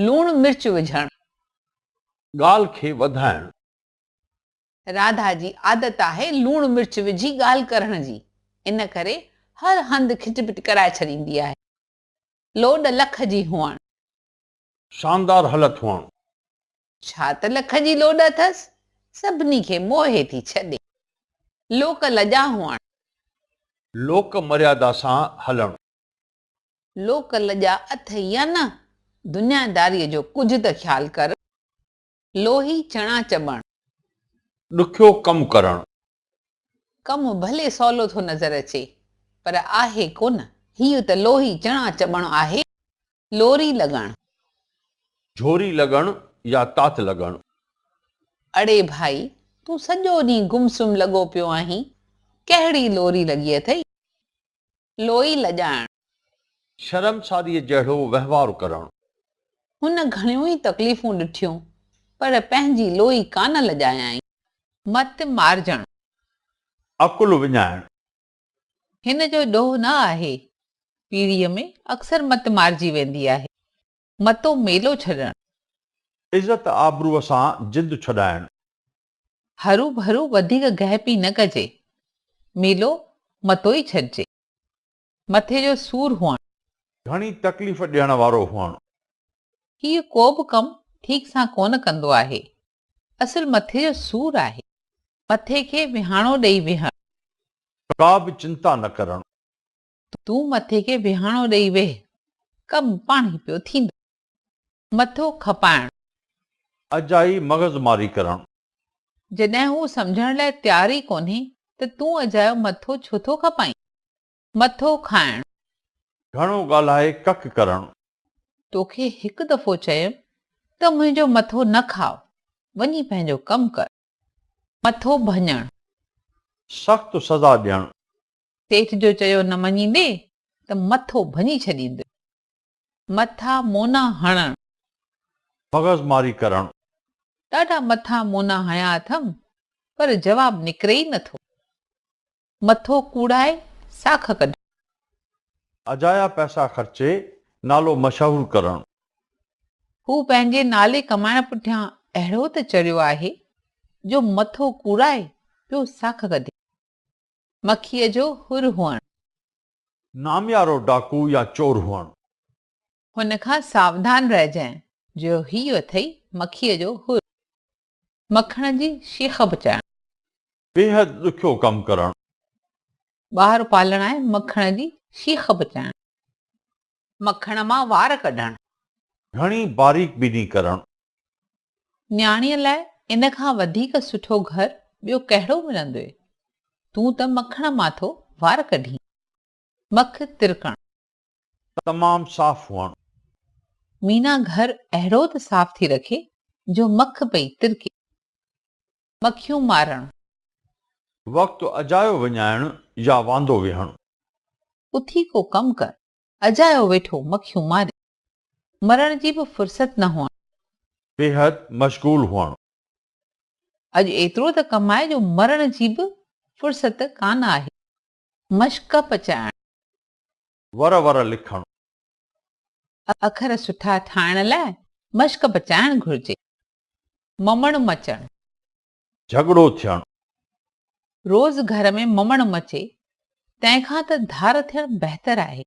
لوڻ مرچ وجهڻ. ڳالهه کي وڌائڻ. راڌا جي عادت آهي لوڻ مرچ وجهي ڳالهه ڪرڻ جي ان ڪري هر هنڌ کٽ پٽ ڪرائي ڇڏيندي آهي. لوڏ لک جي هئڻ. شاندار هلت هئڻ. ڇا ته لک جي لوڏ اٿس. سڀني کي موهي ٿي ڇڏي. لوڪ لڄا هئڻ. لوڪ مريادا سان هلڻ. لوڪ لڄا اٿئي يا نه. دنيا داريء جو ڪجهه ته خيال ڪر. لوهي چڻا چٻڻ. ڏکيو ڪم ڪرڻ. ڪم ڀلي سولو ٿو نظر اچي، پر آهي ڪو نه. هيء ته لوهي چڻا چٻڻ آهي. لوري لڳڻ. جهوري لڳڻ يا تات لڳڻ. اڙي ڀائي، تون سڄو ڏينهن گم سم لڳو پيو آهين، ڪهڙي لوري لڳي اٿئي؟ لوئي لڄائڻ. شرمساريء جهڙو وهنوار ڪرڻ. هن گهڻيون ئي تڪليفون ڏٺيون، پر پنهنجي لوئي ڪانه لڄايائين. مت مارجڻ. عقل وڃائڻ. هن جو ڏوهه نه آهي. پيڙهيء ۾ اڪثر مت مارجي ويندي آهي. متو ميلو ڇڏڻ. عزت آبروء سان جند ڇڏائڻ. هروڀرو وڌيڪ گهپي نه ڪجي، ميلو متو ئي ڇڏجي. مٿي جو سور هئڻ. گهڻي تڪليف ڏيڻ وارو هئڻ. هيء ڪوبه ڪم ٺيڪ سان ڪونه ڪندو آهي. اصل مٿي جو سور آهي. مٿي کي وهاڻو ڏئي ويهڻ. ڪابه چنتا نه ڪرڻ. تون مٿي کي وهاڻو ڏئي ويهه، ڪم پاڻهي پيو ٿيندو. مٿو کپائڻ. اجائي مغز ماري ڪرڻ. جڏهن هو سمجهڻ لاء تيار ئي ڪونهي ته تون اجايو مٿو ڇو ٿو کپائين؟ مٿو کائڻ. گهڻو ڳالهائي ڪک ڪرڻ. توکي هڪ دفعو چيم ته منهنجو مٿو نه کاء، وڃي پنهنجو ڪم ڪر. مٿو ڀڃڻ. سخت سزا ڏيڻ. سيٺ جو چيو نه مڃيندي ته مٿو ڀڃي ڇڏيندس. مٿا مونا هڻڻ. مغز ماري ڪرڻ. ڏاڍا مٿا مونا هنيا اٿم پر جواب نڪري ئي نه ٿو. مٿو ڪوڙائي ساک ڪڍڻ. اجايا پئسا خرچي نالو مشهور ڪرڻ. هو پنهنجي نالي ڪمائڻ پٺيان اهڙو ته چڙهيو آهي جو مٿو ڪوڙائي پيو ساک ڪڍي. مکيء جو حر هئڻ. ناميارو ڊاڪو يا چور هئڻ. هن کان ساوڌان رهجانء. جو هيء اٿئي مکيء جو حر. مکڻ جي شيخ پچائڻ. بيحد ڏکيو ڪم ڪرڻ. ٻار پالڻ آء مکڻ جي شيخ پچائڻ. مکڻ مان وار ڪڍڻ. گهڻي باريڪ بيني ڪرڻ. نياڻيء لاء ان کان وڌيڪ سٺو گهر ٻيو ڪهڙو ملندوئي؟ تون ته مکڻ مان ٿو وار ڪڍين. مک ترڪڻ. تمام صاف هئڻ. مينا گهر اهڙو ته صاف ٿي رکي جو مک پئي ترڪي. مکيون مارڻ. وقت اجايو وڃائڻ يا واندو ويهڻ. اٿي ڪو ڪم ڪر. اجايو ويٺو مکيون ماري. مرڻ جي به فرصت نه هئڻ. بيحد مشغول هئڻ. اڄ ايترو ته ڪماء جو مرڻ جي به فرصت ڪانه آهي. مشق پچائڻ. ور ور لکڻ. اکر سٺا ٺاهڻ لاء مشق پچائڻ گهرجي. ممڻ مچڻ. جهڳڙو ٿيڻ. روز گهر ۾ ممڻ مچي، تنهن کان ته ڌار ٿيڻ بهتر آهي.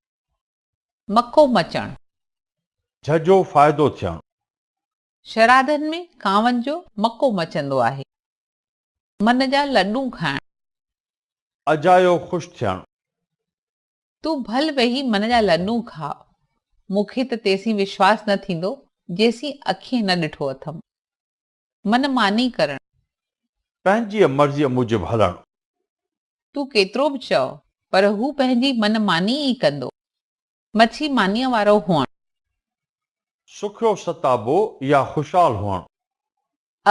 مڪو مچڻ. جهجهو فائدو ٿيڻ. شرادن ۾ ڪانون جو مڪو مچندو آهي. من جا لڏون کائڻ. اجايو خوش ٿيڻ. تون ڀل ويهي من جا لڏون کاء. مون کي ته تيسين وشواس نه ٿيندو، جيسين اکين نه ڏٺو اٿم. من ماني ڪرڻ. پنهنجيء مرضيء موجب هلڻ. تون ڪيترو به چئو، پر هو پنهنجي من ماني ئي ڪندو. مڇي مانيء وارو هئڻ. سکيو ستابو يا خوشحال هئڻ.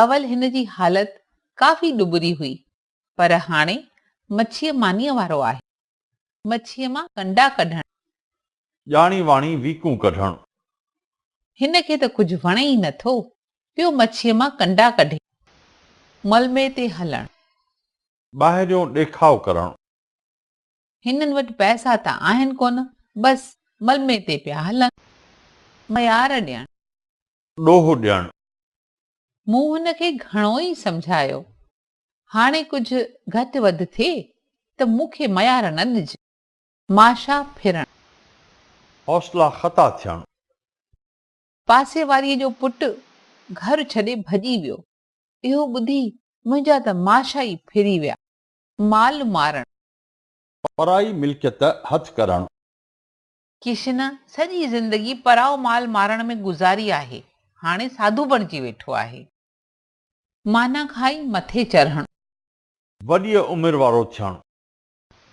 اول هن جي حالت ڪافي ڏٻري هئي، پر هاڻي مڇيء مانيء وارو آهي. مڇيء مان ڪنڊا ڪڍڻ. ڄاڻي واڻي ويڪون ڪڍڻ. هن کي ته ڪجهه وڻي ئي نه ٿو، پيو مڇيء مان ڪنڊا ڪڍي. ملمي تي هلڻ. ٻاهريون ڏيکاء ڪرڻ. هنن وٽ پئسا ته آهن ڪونه، بس ملمي تي پيا هلن. ميار ڏيڻ. ڏوهه ڏيڻ. مون هن کي گهڻو ئي سمجهايو، هاڻي ڪجهه گهٽ وڌ ٿئي ته مون کي ميار نه ڏج. ماشا ڦرڻ. حوصلا خطا ٿيڻ. پاسي واريء جو پٽ گهر ڇڏي ڀڄي ويو. اهو ٻڌي منهنجا ته ماشا ئي ڦري ويا. مال مارڻ. پرائي ملڪيت هٿ ڪرڻ. ڪشن سڄي زندگي پرائو مال مارڻ ۾ گذاري آهي. هاڻي ساڌو بڻجي ويٺو آهي. معنيٰ کائي مٿي چرهڻ. وڏيء عمر وارو ٿيڻ.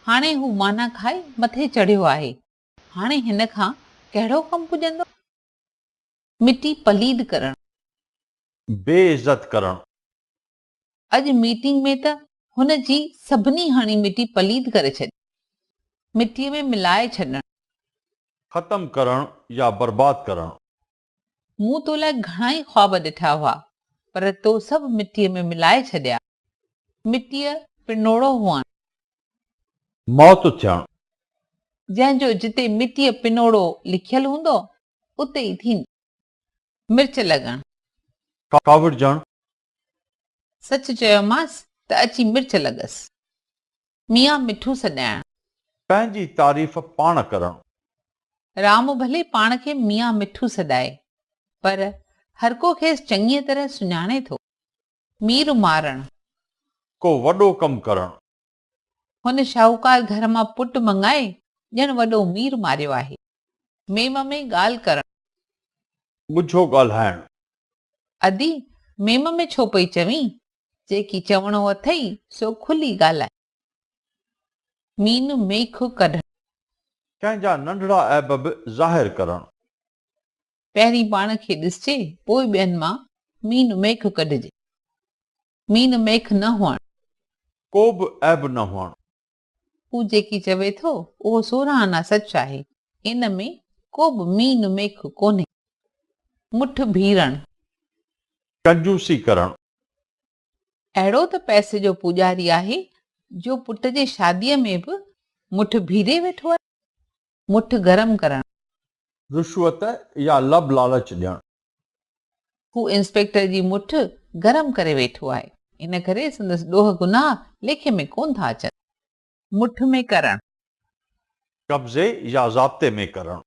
هاڻي هو معنيٰ کائي مٿي چڙهيو آهي. هاڻي هن کان ڪهڙو ڪم پڄندو؟ مٽي پليد ڪرڻ. بي عزت ڪرڻ. اڄ ميٽنگ ۾ ته هن جي سڀني هڻي مٽي پليد ڪري ڇڏي. مٽيء ۾ ملائي ڇڏڻ. ختم ڪرڻ يا برباد ڪرڻ. مون تو لاء گهڻائي خواب ڏٺا هئا، پر تو سڀ مٽيء ۾ ملائي ڇڏيا. مٽيء پنوڙو هئڻ. موت ٿيڻ. جنهن جو جتي مٽيء پنوڙو لکيل هوندو، اتي ئي ٿيندو. مرچ لڳڻ. ڪاوڙجڻ. سچ چيومانس ته اچي مرچ لڳس. ميان مٺو سڏائڻ. پنهنجي تعريف پاڻ ڪرڻ. رام ڀلي پاڻ کي ميان مٺو سڏائي، پر هرڪو کيس چڱيء طرح سڃاڻي ٿو. مير مارڻ. ڪو وڏو ڪم ڪرڻ. هن شاهوڪار گهر مان پٽ مڱائي ڄڻ وڏو مير ماريو آهي. ميم ۾ ڳالهه ڪرڻ. ڳجهو ڳالهائڻ. ادي، ميم ۾ ڇو پئي چوين؟ جيڪي چوڻو اٿئي سو کلي ڳالهاء. مين ميخ ڪڍڻ. ڪنهن جا ننڍڙا عيب به ظاهر ڪرڻ. پهرين پاڻ کي ڏسجي، پوء ٻين مان مين ميخ ڪڍجي. مين ميخ نه هئڻ. ڪو به عيب نه هئڻ. هو جيڪي چوي ٿو اهو سورهن آنا سچ آهي. ان ۾ ڪو به مين ميخ ڪونهي. مٺ ڀيرڻ. ڪنجوسي ڪرڻ. اهڙو ته پئسي جو پوڄاري آهي جو پٽ جي شاديء ۾ به مٺ ڀيري ويٺو آهي. مٺ گرم ڪرڻ. رشوت يا لڀ لالچ ڏيڻ. هو انسپيڪٽر جي مٺ گرم ڪري ويٺو آهي، ان ڪري سندس ڏوهه گناهه ليکي ۾ ڪونه ٿا اچن. مٺ ۾ ڪرڻ. قبضي يا ضابطي ۾ ڪرڻ.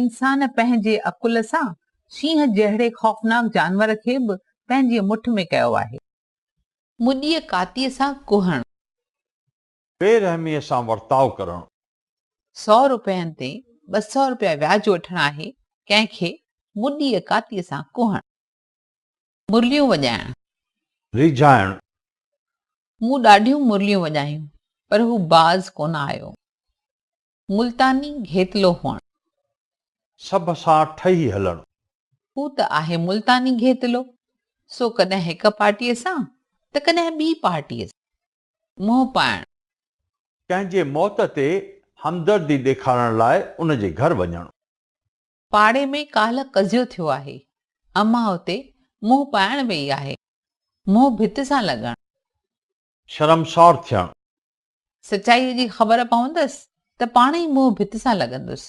انسان پنهنجي عقل سان شينهن جهڙي خوفناڪ جانور کي به پنهنجي مٺ ۾ ڪيو آهي. مڏيء ڪاتيء سان ڪوهڻ. بي رحميء سان ورتاء ڪرڻ. سؤ روپين تي ٻه سؤ روپيا وياج وٺڻ آهي ڪنهن کي مڏيء ڪاتيء سان ڪهڻ. مرليون وڄائڻ. ريجهائڻ. مون ڏاڍيون مرليون وڄايون پر هو باز ڪونه آيو. ملتاني گهيتلو هئڻ. سڀ سان ٺهي هلڻ. هو ته آهي ملتاني گهيتلو سو ڪڏهن هڪ پارٽيء سان ته ڪڏهن ٻي پارٽيء سان. منهن پائڻ. ڪنهن جي موت تي همدردي ڏيکارڻ لاء ان جي گهر وڃڻ. پاڙي ۾ ڪالهه قضيو ٿيو آهي. امان اتي منهن پائڻ ويئي آهي. منهن ڀت سان لڳڻ. شرمسار ٿيڻ. سچائيء جي خبر پوندس ته پاڻ ئي منهن ڀت سان لڳندس.